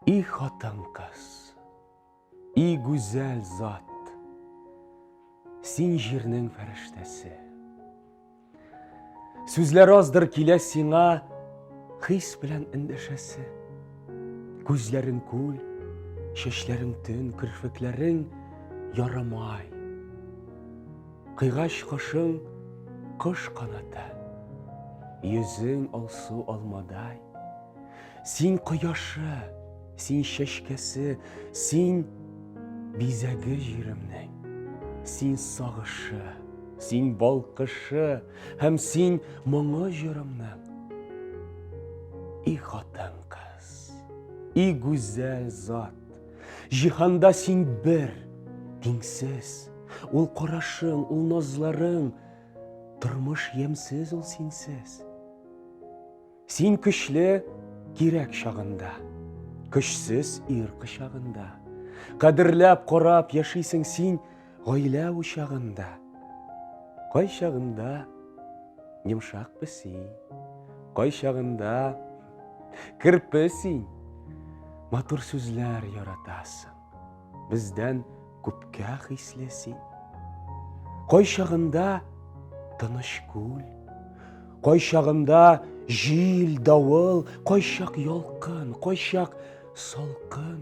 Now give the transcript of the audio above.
И хатын-кыз, и гүзәл зат, Син җирнең фәрештәсе. Сүзләр аздыр килә сиңа Хис белән эндәшәсе. Күзләрең күл, чәчләрең төн, Керфекләрең ярымай. Кыйгач кошың кош канаты, Йөзең алсу алмадай. Син кояшы, син чәчкәсе, Син бизәге җиремнең. Син сагышы, син балкышы, Һәм син моңы җырымның. И хатын кыз, и гүзәл зат, Җиһанда син бер, тиңсез. Ул карашың, ул назларың, тормыш ямьсез ул синсез. Син көчле кирәк чагында, көчсез ир кочагында. Кадерләп, карап яшисең син, Гаилә учагында, кайчагында йомшак песи, кайчагында керпе син. Матур сүзләр яратасың, бездән күпкә хисле син. Кайчагында тыныш күл, кайчагында җил, давыл, кайчак ялкын, кайчак салкын.